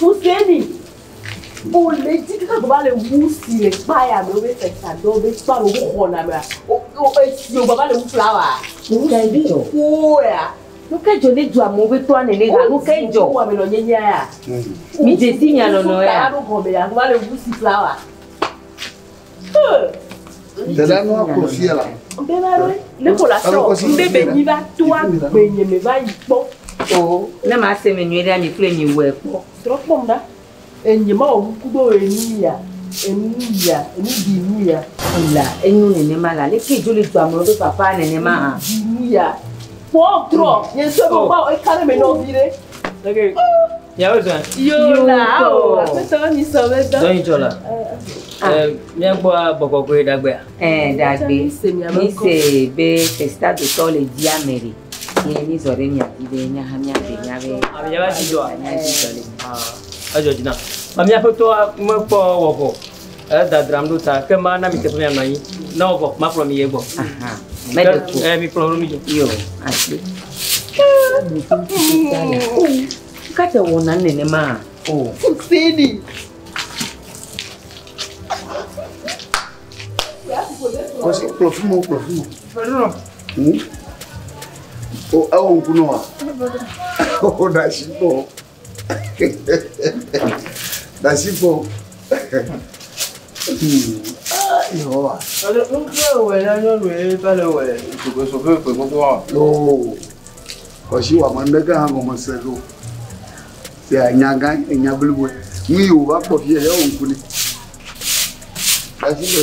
Huseni, o le dzi kaka gɔba le wu si le kpaya me wobe fɛsa dɔ be kpa ɖo wo xɔna mea o o esi o gɔba le wu flawa. Nukevi o. Woea. Nukedzo ne dzo amewo be tɔa nene ha nukedzo. Wo ame nɔ nye nye ya. Mi dzesi nya nɔnɔ ya. Wo su kaya ɖo gɔme ya gɔba le wu si flawa. Dada nua kɔ fia la. Bɛba ɖe, ne ko la sɔ, n bɛ bɛ nyi va to a gbe nye me va yi kpɔ. O, ne ma se me nyuie ɖe ami kple mi wɛ kpɔ. Trɔ kpɔm ɖa. Enye ma o ku do enu ya, enu ya, enu di nu ya. La, enu ne ne ma la, le ke joli do amro be papa ne ne ma ha. Di nu ya. Kpɔ trɔ, nye so ko ba o e kare me no vi ɖe. Okay. Oh. Miawo zɔa? Yo la o. Aƒetɔ mi sɔ be dɔ. Dɔnyi tsɔ la. Mia gbɔ bɔbɔ goe dagbea. Eh dagbe. Mi se be festa do tɔ le dia me de. Ye mi zɔ de mia di de nya ha mia de nya be. Ami ya ba ti zɔ. Nya ti zɔ le. Ah. Ajo dina. Ami aƒetɔ me kpɔ wɔbɔ. Edadram ɖo ta, ke mana mi teƒe mianɔ anyi. Ne wòvɔ, makplɔ mi yi egbɔ. Meɖe ko. Ke- eh, mikplɔ nu mi dzo. Yo, asi. Kate wɔna nenema o. Sidi. Kɔsi, kplɔ fún mi, kplɔ fún mi. Hmm? O, ewɔ ŋku nɔ wa? O, ɖe asi nɔ. Dasifo. Yehowa. Yoo. Kɔsi wa mande ke hã gɔme se ɖo. Se anya gã anya blibo. Nu yi wòva kpɔ fia ya wòŋku ne. Dasifo.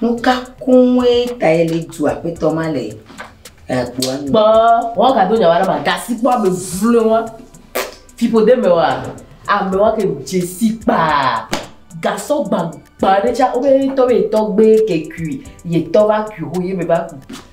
Nuka koŋue tae Letu aƒetɔ ma le agboa nu? Kpɔ, wọn gado nya wa ɖe ma, gasi kpɔ ame vloe wa. Fiƒode me wa, ame wa ke dzesi kpaa. Gasɔ gbagba ɖe tsa, wo be tɔ be tɔ gbe ke kui, ye tɔ va kui ho ye me va kui.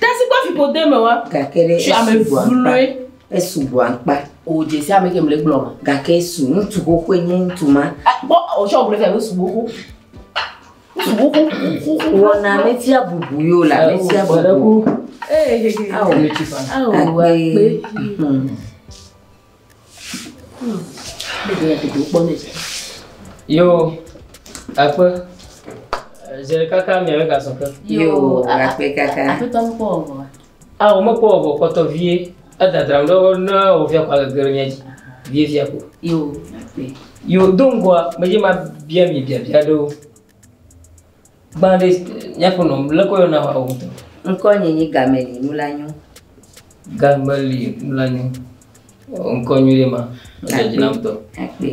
Tasi kɔ fi kode me wa. Gake ɖe esu ame vloe. Esu bu akpa. O jesi ame ke mle gblɔ ma. Gake esu ŋutsu xoxoe nye ŋutsu ma. Kpɔ o sɔ gblɔ fia be subu xoxo. Subu xoxo. Wɔna me tia bubu yo la me tia bubu. Ee. Awo. Awo. Akpe. Yo, akpe. Zere kaka mia me ka sɔke. Yo, akpe kaka. Aƒetɔ me kpɔ ɔvɔ. Ah, o me kpɔ ɔvɔ kpɔtɔ vie. Edadram ɖe wo ne wo via kwa gege ɖe mia dzi. Vie via ko. Yo, akpe. Yo, do ŋgɔa, me dzi ma bia mi bia bia ɖewo. Gbã ɖe míaƒo nɔ lé kɔ yɔna wa o. Ŋkɔ nye nyi game li nu la nyo. Game li nu la nyo. Ŋkɔ nyo ɖe ma. Ŋkɔ dzi nam tɔ. Akpe.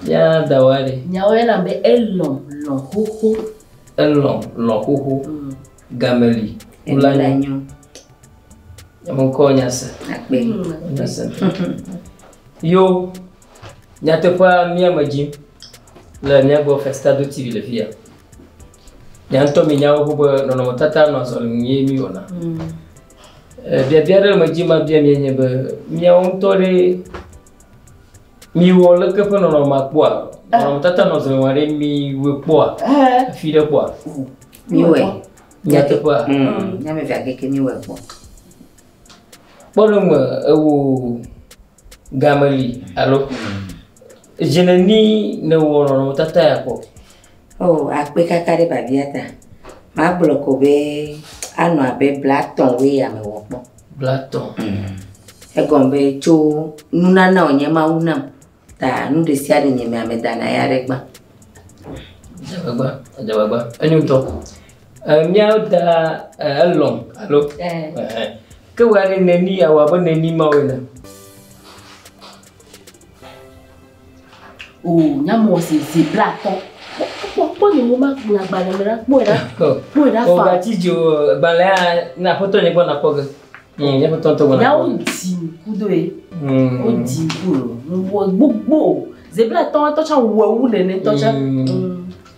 Ya da wa ɖe. Nyawo yɛ na be elɔ lɔ xoxo. Elɔ lɔ xoxo. Mm. Game li nu la nyo. Ŋkɔ nya se. Akpe. Nya se. Yo. Nyateƒea mía me dzi le mía gbɔ Festado TV le fi ya. Mia ŋutɔ mi nyawo ƒo be nɔnɔmetata nɔ azɔli ŋu ye mi wɔna. Mm. Eh, biabia ɖe me dzi ma bia mi nye be mia ŋutɔ ɖe mi wɔ leke ƒe nɔnɔme ma kpɔa? Eh. Nɔnɔmetata nɔ azɔli ŋu ɖe mi wɔ kpɔa? Eh. Fi ɖe kpɔa? Mi wɔ. Nyateƒea. Mm. Nyame via keke mi wɔ kpɔ. Kpɔ ɖe me ewo. Game li alo dzineni nèwɔ nɔnɔmetata ya kpɔ? O, oh, akpe kaka ɖe babia ta. Magblɔ ko be anɔ abe blatɔn we ya me wɔ kpɔ. Blatɔn. Mm. Egɔn be tso nunana wònye Mawu nam ta nu ɖe sia ɖe nye me amedana ya ɖe gbã. Dzegbegba, dzegbegba. Enyo ŋutɔ. Eh, míawo da eh, elɔm alo eh. eh. ke wɔ aɖe neni awɔ abe neni mawo ene o oh, nyamɔ se ze bla atɔ kpɔkpɔ ne mo ma nya gbalẽ me la kpɔe la oh. kpɔe la fa o oh, gati dzi o gbalẽ ya na aƒetɔ nye gbɔ na kpɔ ge hmm, nye aƒetɔ ŋutɔ gbɔ na kpɔ yawo di ŋku do ye hmm. wo di ŋku o wɔ gbogbo zebla tɔ tɔ tsa wɔ ewu nene tɔ tsa. Hmm.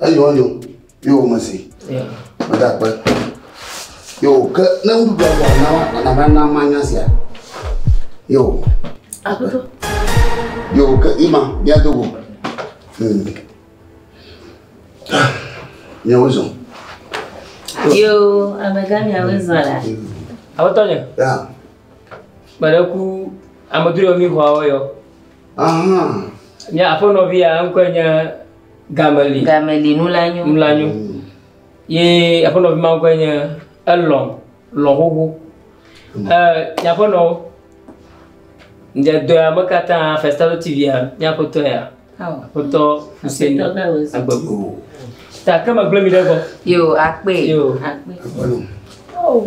Eyɔ yɔ yɔ wò me si. Meda akpe. Yo ke ne nuɖuɖu agba na wa ana va na ma nya sia. Yo. Akoto. Yo ke ima bia dogo. Hmm. Mia wo zɔn. Yo amega mia wo zɔn la. Akoto nye. Ya. Kpɛɖe ku ameduyɔ mi xɔ awɔ yɔ. Ahan. Mia afɔ nɔvi ya ŋkɔe nye. Game li. Game li nu la nyo. Nu la nyo. Ye aƒenɔvi ma ŋkɔe nye elɔ lɔ xoxo. Ɛ nyaƒenɔ ŋdze dɔya me katã Festalo TV ya nyaƒetɔ ya. Aƒetɔ Hussein Agbego. Ta ke me gblẽ mi ɖe gbɔ. Yo akpe. Yo akpe. Oh.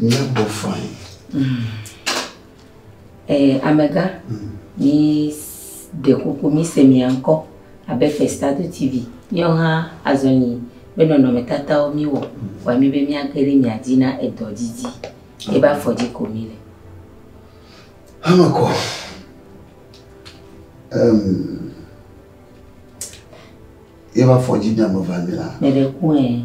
Míabɔ fain. Ee, amegã, míɖe kuku míse mia ŋkɔ abe Festado TV. Míawo hã azɔ nyi be nɔnɔmetatawo míwɔ wɔ mí be míage ɖe mia dzi na edɔ didi. Ebe afɔ dzi ko míle. Eme kɔ. Em, ebe afɔ dzi mía me va mí la. Meɖe ku ɛ.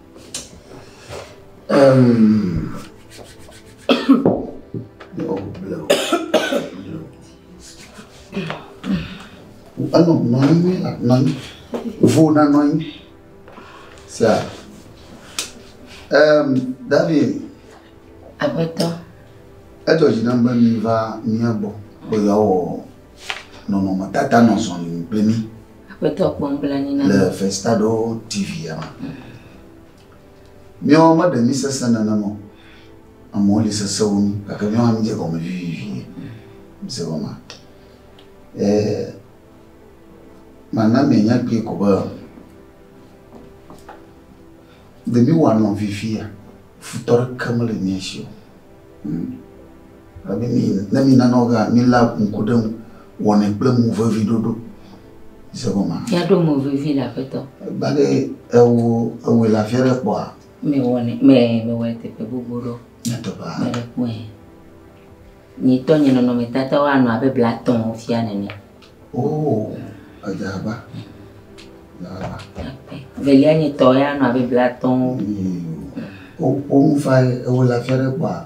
Ano nɔnyi mi la nɔnyi. Vo na nɔnyi. Sia. Um, David. Agbetɔ. Edzɔ dzi nam be mi va mía gbɔ be yeawɔ nɔnɔmetata nɔzɔli kple mi. Aƒetɔ kpɔ nublanui na mi. Le Festado TV ya me. Míawo meɖe mí sesẽ nenema o. Amewo li sesẽ wu mí gake míawo hã mídze gɔme vivivie. Mise gɔmea? E, mana mianya kpuie ko be ɖe míwoanɔ vivia, futɔ ɖeke mele mía si o. Hm? Ame mi ne mi nana wo ga mi la ŋku ɖe ŋu wɔnɛ kple mo vevi ɖoɖo. Mise gɔma? Ya ɖo mo vevi le aƒetɔ. Egba ɖe ewo ewoe la fia ɖe kpɔa? Me wɔnɛ me me wɔe teƒe gbogbo ɖo. Nye teƒe. Me ɖe kpɔe. Nye tɔ nye nɔnɔ me tata wa nɔ abe bla tɔn wo fia nene. Oh, aja ba. Ya ba. Velia nye tɔ ya nɔ abe bla tɔn wo. Oh, oh, fa ewo la fia ɖe kpɔa?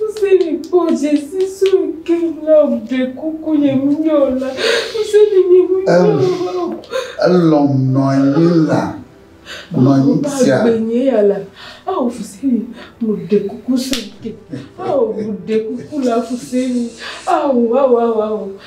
Hussaini kpɔ dzesi sue ke la o, ɖekuku nyemenye o la, Hussaini nyemenye o la o. Elɔ̃m nɔ anyi la nɔ anyi tia. Ŋuba gbenye ya la, ao Hussaini, mu ɖekuku sue ke. Ao mu ɖekuku la Hussaini, ao, ao, ao, ao.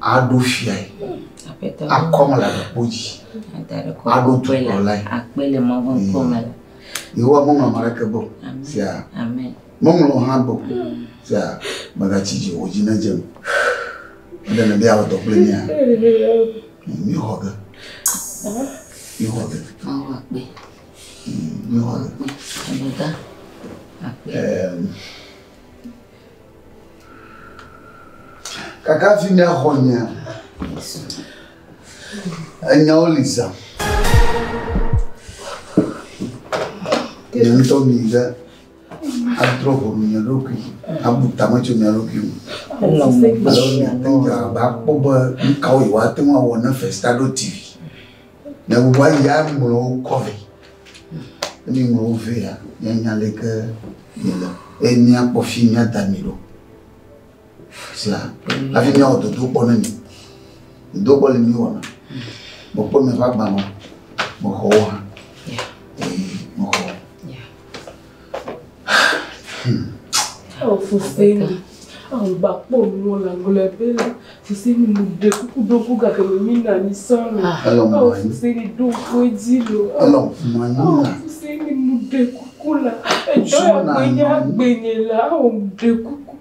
aɖo fiae, akɔm le aɖekpo dzi, aɖo dukplɔlae. Yehowa meŋlɔ ame aɖeke be o. Fia, meŋlɔ hã be o. Fia, megatsi dzi o, dzi nedze me. Eɖe nèbe yeawɔ dɔ kple mía? Míexɔ ge. Míexɔ ge. Míexɔ ge. Míexɔ ge. Kaka hafi míaxɔ nyea, enyawo li zã. Nye ŋutɔ mi ɖe adrɔ ʋɔnu nye ɖokui, abu tame tso mia ɖokui ŋu. Alo miate ŋu dze agbagba kpɔ be nu kawo yewoate ŋu awɔ ne fesita ɖo TV. Ne gbogbo ayi ya ŋlɔ wo kɔ vɛ. Ne mi ŋlɔ wo vɛ ya, ya nya le ke mi le. E mi akpɔ fi mi ada mi ɖo. Sia, la fi mi awɔ dodo kpɔ ne mi. Dodo kpɔ le mi wɔ na. Mo kpɔ mi va gba mo. Mo xɔ wo ha. Ee, mo xɔ. Eo fufui mi. Eo gba kpɔ nu la gblɔ be la fufui mi mu de kuku do ku ga ke mi na ni so lo. Eo fufui mi do ko dzi lo. Eo fufui mi mu de kuku la. Ejo ya gbe nya gbe ne la eo de kuku.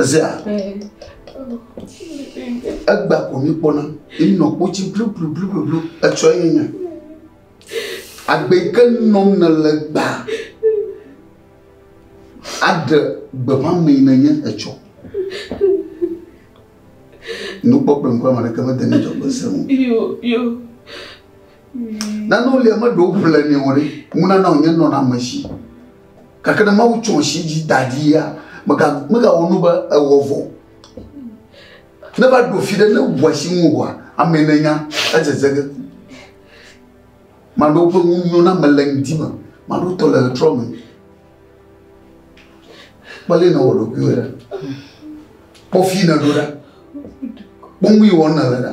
Ezea? Egba ko mi kpɔna. Emi nɔ kpotsi blublublublu etsɔ ye nye. Agbe ke nɔm ne le gba. Aɖe gbeƒã me yi nenye etsɔ. Nukpɔkplɔ ŋkɔ ame ɖeke mede ne dzɔgbe se ŋu. Yo yo. Nanewo li ame ɖewo ƒle nɛ o ɖe, ŋunana wònye nɔnɔame si. Gake ne Mawu tsɔ si dzi da ɖi ya, megawɔ nu be ewɔ vɔ. Ne va ɖo fi ɖe ne ŋu asi ŋuwòa, amee nènya edzedze ge. Maɖewo ƒe nu nyo na ame le ŋdi me, maɖewo tɔ le ɣetrɔ me. Kpɔ ale nèwɔ ɖokuiwò ɖa. Kpɔ fi nèɖo ɖa. Kpɔ nu yi wɔm nèle ɖa.